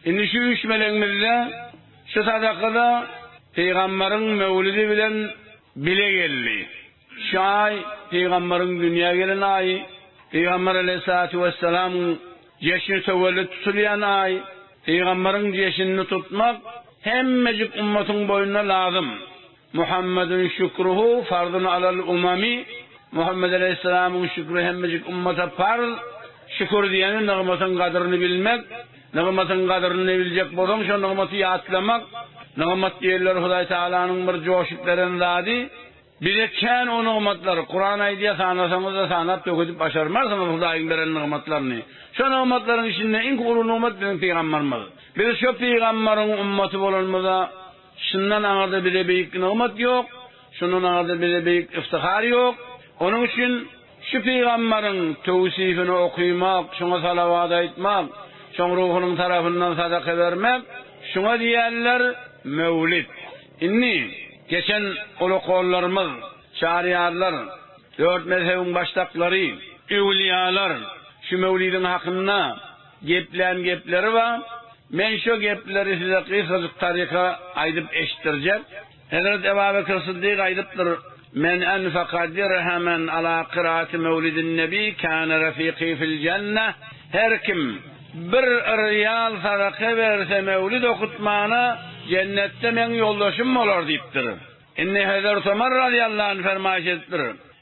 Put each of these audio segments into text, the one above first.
Indi şu üç melegimiz-de şu sadakada pygamberiň möwlüdi bilen bile geldi. Şu aý pygamberiň dünýä gelen aýy, pygamber aleýhissalatu wessalamyň jeşni töwellit tutulýan aý. Pygamberiň jeşinini tutmak hemmejik ümmatyň boýnuna lazym. Muhammadun şükruhu farzun alal umami, Muhammet aleýhissalamyň şükri hemmejik ummata parz, şükür diýeni nygmatyň gadyryny bilmek, nygmatyň gadyryny biljek bolsaň şo nygmaty ýatlamak, nygmat diýilýär Hudaý Tagalanyň bir joşup beren zady, bize kän o nygmatlar, Kuran aýdýar sanasaňyzda sanap döküdip başarmarsyňyz Hudaýyň beren nygmatlaryny, şo nygmatlaryň içinde iň uly nygmat biziň pygambarymyz, biz şo pygambariň ummaty bolanymyza, Şundan aňyrda bize beýik nygmat ýok, şundan aňyrda bize beýik yftyhar ýok. Onuň üçin şu pygamberiň töwsifini okymak, şoňa salawat aýtmak, şoň ruhunyň tarapyndan sadaka bermek, şuňa diýerler Möwlid. Indi, geçen ulukollarymyz, Çaryýarlar, dört mezhebiň başdaklary, öwülýalar şu Möwlidiň hakynda, Geplän gepleri bar. Men şo gepleri size gysgajyk taryka aýdyp eşitdirjek. Hezreti Ebabekr Syddyk aýdypdyr, Men enfakadirhe men ala kyrati mewlidin nebi kâne refiqi fil jenneh, Her kim bir rial sadaka berse mewlid okutmana, jennetde meň ýoldaşym bolar diýipdir. Indi Hezreti Omar razyýallahu anh fermaýyş edipdir,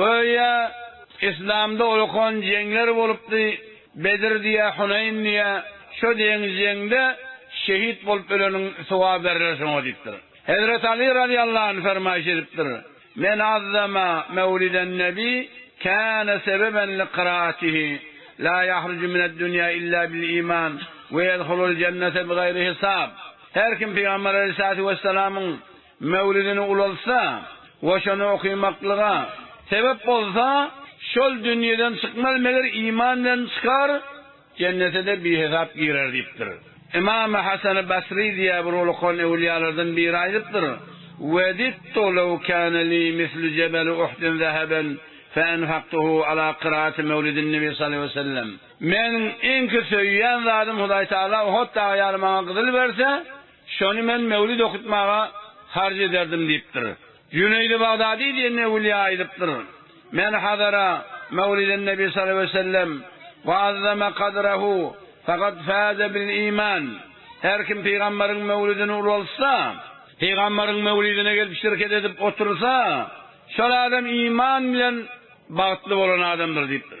Göýä, yslamda ulkan jeňler bolupdy, Bedir diýä, Huneýn diýä, şo deň jeňde şehit bolup öleniň sogaby beriler şoňa diýipdir. Hezreti Aly razyýallahu anh fermaýyş edipdir, Men azzama mewliden nebi kana sebeben li kyratihi, la yahrucu mined dünya illa bil iman we yedhulul jennete bi gayri hisab. Her kim Pygamber aleyhissalatu vesselamyň Möwlidini ulaltsa we şony okymaklyga sebep bolsa, şol dünýeden çykmaz, meger iman bilen çykar, jennete-de bihesap girer diýipdir. Ymam Hasany Basry diýýär, Bir ulukan öwliýalardan biri aýdypdyr, Wedittu lew kana li mislu jebeli Uhdin zehaben fe enfaktuhu ala kyraaty mewlidin Nebi sallallahu aleýhi wesellem. Meniň iňki söýýän zadym Hudaýtagala Uhut dagy ýaly maňa gyzyl berse, Şony men möwlüt okutmaga harç ederdim diýipdir. Jüneýdi Bagdady diýen öwülýä aýdypdyr, Men Hazara, Möwliden-Nebi sallallahu aleýhi we sellem, Wa azzama kadrahu fakat faze bil iman, Her kim pygamberiň möwlüdini ulaltsa, pygamberiň möwlidine gelip şirket edip otursa, şol adam iman bilen bagtly bolan adamdyr diýipdir.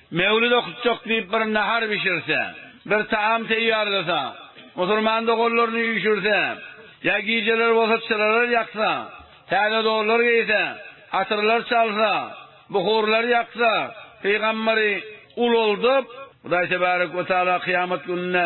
Mewlid okutjak diýip bir nahar bişirse, bir taam teýýarlasa, musulman doganlaryny üýşürse, ýa gijeler bolsa çyralar ýaksa, täze donlar geýse, atyrlar çalsa, buhurlar ýaksa, pygamberi ulaldyp, Hudaý tebarek we taala kyýamat gününde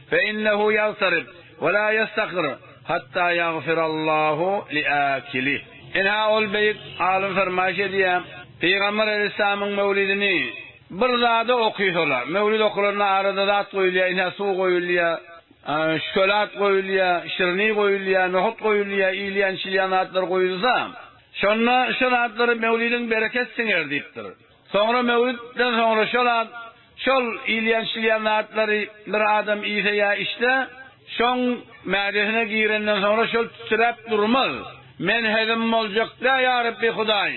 Fe innehu ýagtarib we la ýestakir hatta ýagfirallahu li akilih. Ynha ol beýik alym fermaýş edýär, Pygamber aleýhissalamyň möwlidini bir zada okysalar, möwlid okalanda arada zat goýulýar, ynha suw goýulýar, şkölat goýulýar, şirni goýulýar, nohut goýulýar, iýilýän-içilýän zatlar goýulsa, şonda şu zatlary möwlidiň bereket siňer diýipdir. Soňra möwlütden soňra şol zat, şol iýilýän-içilýän zatlary bir adam iýse ýa içse, şoň mädesine girenden soňra şol tütüläp durmaz. Men hezim boljak-da, ýa Rebbi Hudaý,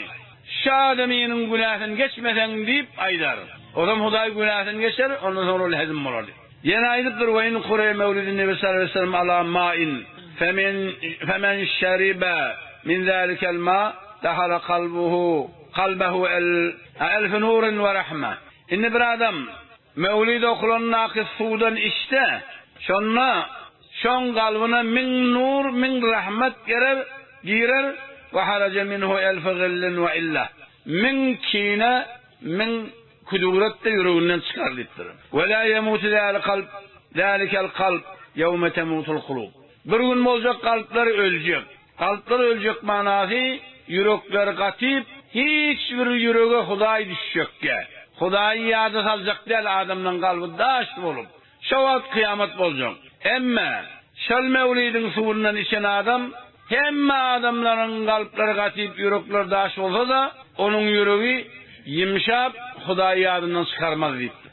şa adamynyň günäsini geçmeseň diýip aýdar. Ozam Hudaý günäsini geçer, ondan soňra ol hezim bolar diýip. Ýene aýdypdyr, Ve in kure mewlidin Nebi sallallahu aleýhi ve sellem ala main, femen şeribe min zalikel ma, dahale kalbuhu. Kalbahu el elf nurin we rahma. Indi bir adam Mewlid okulandaky suwdan içse, şonda şoň kalbyna müň nur, müň rahmat gerer, girer, we haraja minhu elf gillin we illa. Müň kine, müň küdüwret-de ýüreginden çykar diýipdir. Ve la yemutu zâli kalb, zâlikel kalb, yevme temutul kulub. Bir gün boljak kalplar öljek. Kalplar öljek manasy ýürekler gatyp hiç bir ýürege hudaý düşjek däl. Hudaýy ýada saljak däl adamlaň kalby daş bolup. Şo wagt kyýamat boljak. Emme şol mewlidiň suwundan içen adam hemme adamlaryň kalplary gatyp ýürekler daş bolsada onuň ýüregi ýymşap hudaýy ýadyndan çykarmaz diýipdir.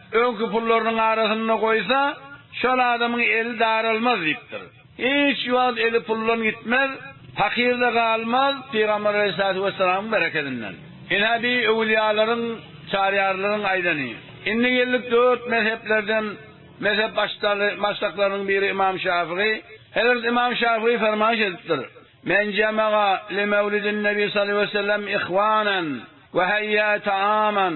Öňki pullarynyň arasynda goýsa, şol adamyň eli daralmaz diýipdir. Hiç wagt eli puldan gitmez, pakyr-da galmaz, Pygamber aleýhissalatu wessalamyň berekedinden. Ine, bi öwülýalaryň, çaryýarlaryň aýdany. Indi geldik dört mezheplerden mezhep başdaly-başdaklarynyň biri Ymam Şafygy. Hezret Ymam Şafygy fermaýyş edipdir, Men jemega li mewlidin Nebi sallallahu aleýhi wesellem ihwanan we heýýä taaman.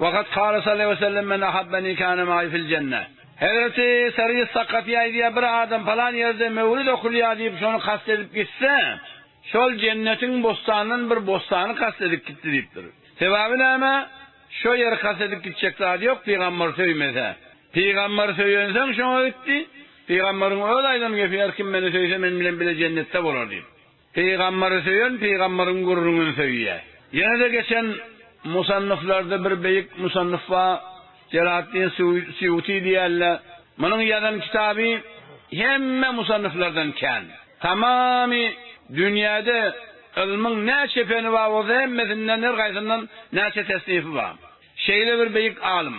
Ve kad kâle sallâhu aleyhi ve sellem, Men ahabbeni kâne maî fil cenne. Hezreti Sariyy Sakafî aýdýar, Bir adam palan ýerde mewlid okulýar diýip, şony kast edip gitse, şol jennetiň bossanyndan bir bossany kast edip gitdi diýipdir. Sebabi näme? Şo ýeri kast edip gitjek zady ýok, pygamberi söýmese. Pygamberi söýensoň şoňa gitdi. Pygamberiň öz aýdan gepi, Her kim meni söýse, men bilen bile jennetde bolar diýip. Pygamberi söýen pygamberiň gürrüňini söýýär. Ýene-de geçen musannyflarda bir beýik musannyf bar, Jelaleddin Suýuty diýýärler. Munuň ýazan kitaby hemme musannyflardan kän. Tamamy dünýäde ylmyň näçe feni bar bolsa hemmesinden her haýsyndan näçe tesnify bar. Şeýle bir beýik alym.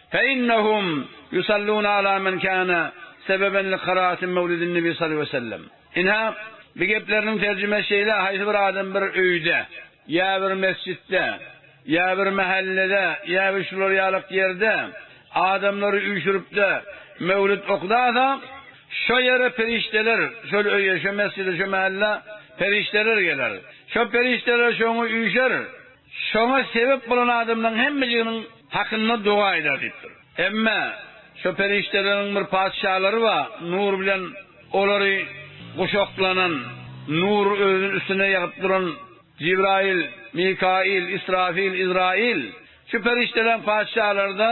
Feinehum yusalluna ala men kana sebeben li karaati mevlidin nebi sal ve sellem. Inha, bi gepleriniň terjimesi şeýle, haýsy bir adam bir öýde, ýa bir mesjitde, ýa bir mahallede, ýa bir şular ýalak ýerde adamlary üýşüripde mevlid okdasa, şo ýere perişdeler, şol öýe, şo mesjide, şo mahalla perişdeler geler. Şo perişdeler şoňa üýşer. Şoňa sebep bolan adamlaryň hemmeliginiň hakynda doga eder diýipdir. Emma şo perişdeleriň bir patyşalary bar, nur bilen olary guşaklanan, nury özüniň üstüne ýagyp duran Jibraýyl, Mikaýyl, Israfyl, Yzraýyl. Şu perişdeleriň patyşalary-da.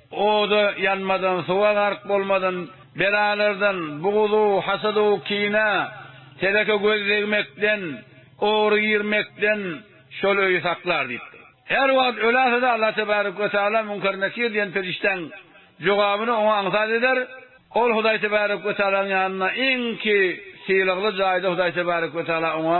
Oda ýanmadan, suwa gark bolmadan, belalardan, bugzu, hasadu, kine, teleke göz degmekden, ogry girmekden şol öýi saklar diýipdir. Her wagt ölälse-de Allah tebarek we taala Münker Nekir diýen perişdäň jogabyny oňa aňsat eder. Ol Hudaý tebarek we taalanyň ýanynda iňki sylagly jaýda Hudaý tebarek we taala oňa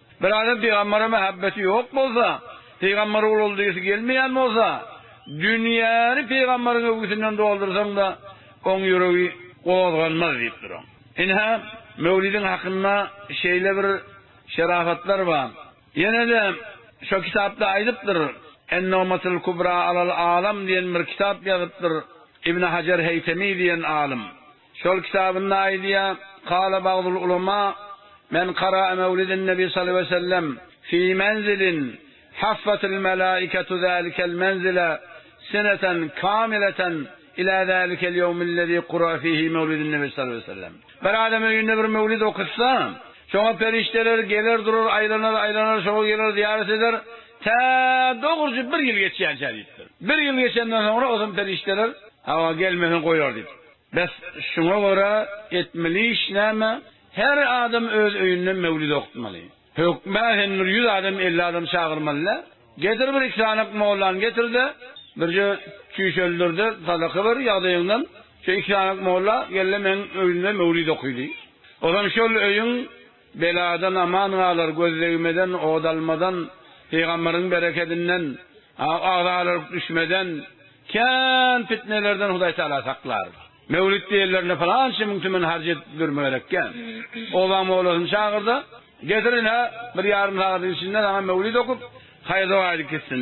Bir adam pygambere mähebbeti ýok bolsa, pygamber ulaly diýesi gelmeýän bolsa, dünýäni pygamberiň öwgüsinden doldursaň-da, oň ýüregi gozganmaz diýip duran. Ynha, möwlidiň hakynda şeýle bir şerapatlar bar. Ýene-de şo kitapda aýdypdyr, En-Nogmatul Kubra alal Alam diýen bir kitap ýazypdyr Ibn Hajar Heýtemi diýen alym. Şol kitabynda aýdýar, Kâle bagdul ulemâ, Men kara'a mewliden Nebi sallallahu aleýhi ve sellem fî menzilin haffatil melâiketu zâlikel menzile seneten kâmileten ilâ zâlikel ýewmillezî kura'a fîhî mewlidun Nebi sallallahu aleýhi ve sellem, Bir adam öýünde bir mewlid okutsa, şoňa perişdeler geler durar, aýlanar, aýlanar, şoňa geler, zyýarat eder, tä dogrujy bir ýyl geçýänçä diýipdir. Bir ýyl geçenden soňra o zaman perişdeler, Hawa, gelmeseň goýar diýipdir. Bes şuňa görä etmeli iş näme? Her adam öz öýünde möwlid okutmaly. Hökmä sen bir ýüz adam elli adam çagyrmalyda. Getir bir iki sanak mollany getirde, birje çüýşeldirde sadaka ber ýagdaýyňdan. Şo iki sanak molla gelle meň öýümde möwlid oky diý. Ozan şol öýüň. Beladan aman galar, gözdegmeden, ot almadan, pygamberiň berekedinden, agzalaryk düşmeden, kän pitnelerden Hudaý Tagala saklar. Mewlid diýenlerinde pylança müň tümen harç edip durma gerekkä. Obaň mowlasyny çagyr-da, getirin-hä, bir ýarym sagadyň içinde saňa mewlid okup, haýyr-doga aýdyp gitsin.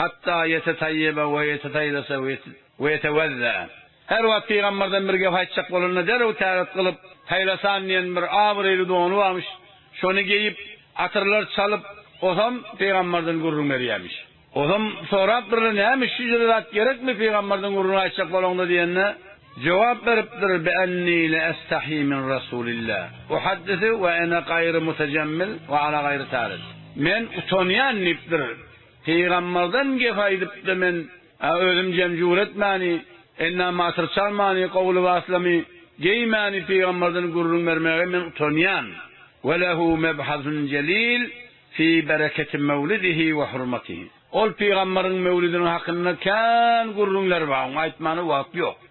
Hatta ýetetayýeba we ýetetayýlasa we we ýetewezza. Her wagt pygamberden bir gep aýtjak bolanda derrew täret gylyp, haýlasan diýen bir abraýly dony barmyş, şony geýip, atyrlar çalyp, osam pygamberden gürrüň berýärmiş. Osam sorap birine näme şüjre zat gerekmi pygamberden gürrüň aýtjak bolaňda diýende, jogap beripdir bi enni le estahyi min rasulillah uhaddisi we ene gaýry mutajemmil we ala gaýry taris. Men utanýan diýipdir. Pygamberden gep aýdypda men, a özüm jemjur etmäni, enda matyr çalmany, gowy lybaslamy geýmäni pygamberden gürrüň bermäge men utanýan. We lehu mebhasun jelil fi bereketi mewlidihi we hurmatihi. Ol pygamberiň mewlidiniň hakynda kän gürrüňler bar, oňa aýtmana wagt ýok.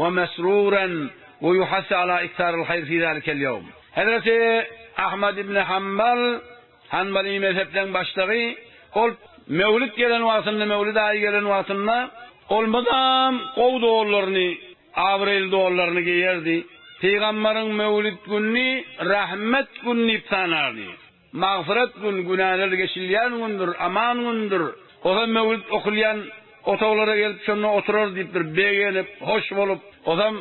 Wa mesruran wa yuhassu ala iktharil haýr fi zalikel ýowm. Hezreti Ahmad ibn Hanbal, Hanbaly mezhepleň başlygy, ol Mewlid gelen wagtynda, Mewlid aýy gelen wagtynda, ol mydam gowy dollaryny, abraýly dollaryny geýerdi. Pygamberiň Mewlid gününi rahmet günü diýip tanardy. Magfyrat gün, günäler geçilýän gündür, aman gündür. Ozan möwlüt okulýan otaglara gelip şonda oturar diýipdir, begenip, hoş bolup. Ozan,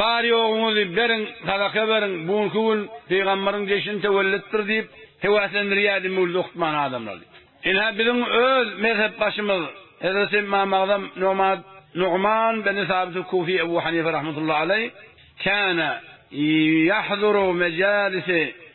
Bar-ýoguňyzy beriň, sadaka beriň, bu günki gün pygamberiň jeşini töwellitdir diýip, höwäslendirýärdi möwlüt okutman adamlary. Ine, biziň öz mezhepbaşymyz hezreti Ymam Agzam Nomad Nugman beni Sabit-i Kufi Ebu Hanife rahmetullahi aleýh, Kâne yahzuru mejâlisi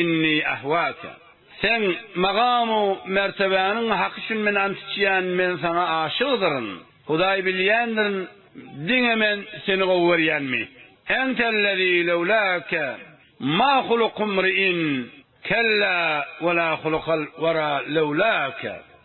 Inni ahwaka. Sen magam-u mertebäniň haky üçin men ant içýän, men saňa aşygdyryn. Hudaý bilýändirin, diňe men seni gowy görýänmi? Entellezî lewlâke ma hulukumri'in, kellä we la hulukal wera lewlâke.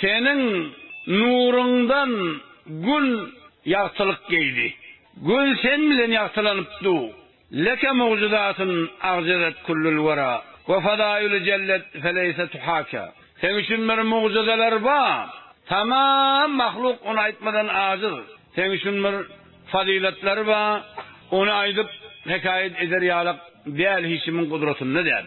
Seniň nuruňdan gün ýagtylyk geýdi. Gün sen bilen ýagtylanyp du. Leke mugjizatin agjedet kullul wera we fadaýuly jellet feleýse tuhaka. Seň üçin bir mugjizalar ba. Tamam mahluk ony aýtmadan ajiz. Seň üçin bir fazylatlar ba. Ony aýdyp hekaýat eder ýalak däl hiç kimiň gudratynda däl.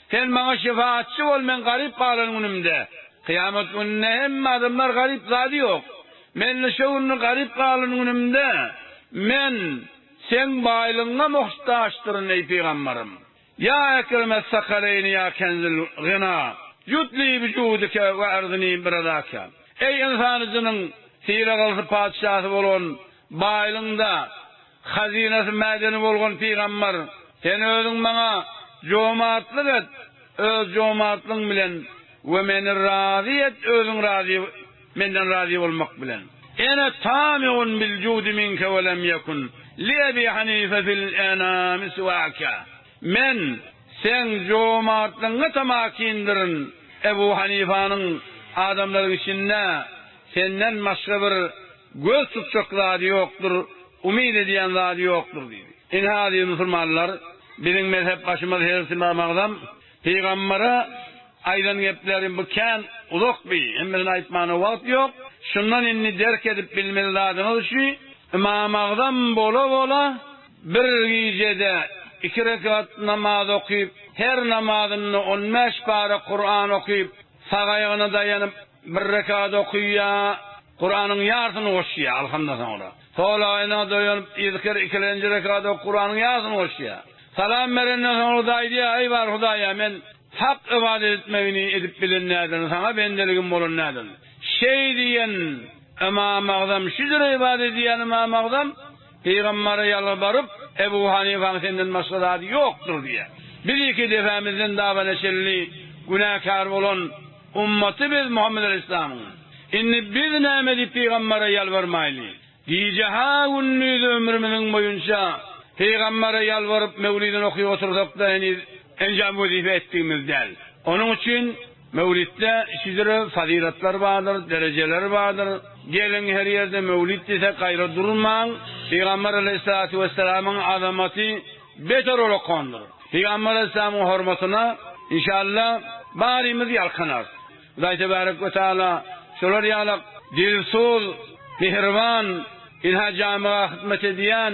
Sen maňa şefaatçy bol, men garyp galan günümde. Kyýamat gününde hemme adamlar garyp zady ýok. Men-de şo günde garyp galan günümde, men Seň baýlygyňa muhtaçdyryn, eý, pygambarym. Ýa Ekreme Sakaleýni ýa Kenzül Gyna, ýut li bi judike we agznini bi ryzaike. Eý, ynsan-u jynyň syragylysypatyşasy bolan Baýlygyň-da hazynasy mädeni bolgun pygambar, sen özüň maňa jomartlyk et öz jomartlygyň bilen we meni razy et özüň razy menden razy bolmak bilen. Ene tami'un bil judi minke we lem yekun li Ebi Hanife fil enami siwake, men seň jomartlygyňa tamakindirin, Ebu Hanifanyň adamlaryň içinde senden başga bir Göz tutjak zady ýokdur, umyt edýän zady ýokdur diýdi. Ine aziz musulmanlar, biziň mezhep başymyz Hezreti Ymam Agzam pygambere aýdan gepleri bu kän uzak bi, hemmesini aýtmana wagt ýok. Şundan indi derk edip bilmeli zadyňyz üçi, Ymam Agzam bola bola bir gijede iki rekat namaz okyp, her namazynda on bäş para Kuran okyp, sag aýagyna daýanyp, Bir rekat okuyya Kuranyň yarsyny goşýa alhymdan soňra. Solaýyna doýanyp yzkir ikilenji rekat ok Kuranyň yarsyny goşýa. Salam berenden soňra da aýdýa Eý bar Hudaýa men hak ybadat etmegini edip bilen näderin saňa bendeligim bolan näderin. Şeý diýen Ymamagzam şüdür ybadat edýän Ymamagzam Pygambere ýalbaryp, Ebu Hanyfaň senden başga zady ýokdur diýýär. Biz iki depemizden dabana çenli günäkär bolan ummaty biz Muhammet Aleýhislamyň. Indi biz näme edip pygambere ýalbarmaýly? Gije-ha gündiz ömrümiziň boýunça pygambere ýalbaryp möwlidini okuyp otursak-da heniz enjam wezipe etdigimiz däl. Onuň üçin Möwlitde şidiri fazylatlar bardyr, derejeler bardyr. Geliň her ýerde möwlit diýsek gaýra durmaň. Pygamber aleýhissalatu wessalamyň azamaty beter ol okandyr. Pygamber aleýhissalamyň hormatyna inşallah barymyz ýalkanarys. Hudaý tebarek we taala şolar ýalak dilsuz, mihriban, ynha jamyga hyzmat edýän,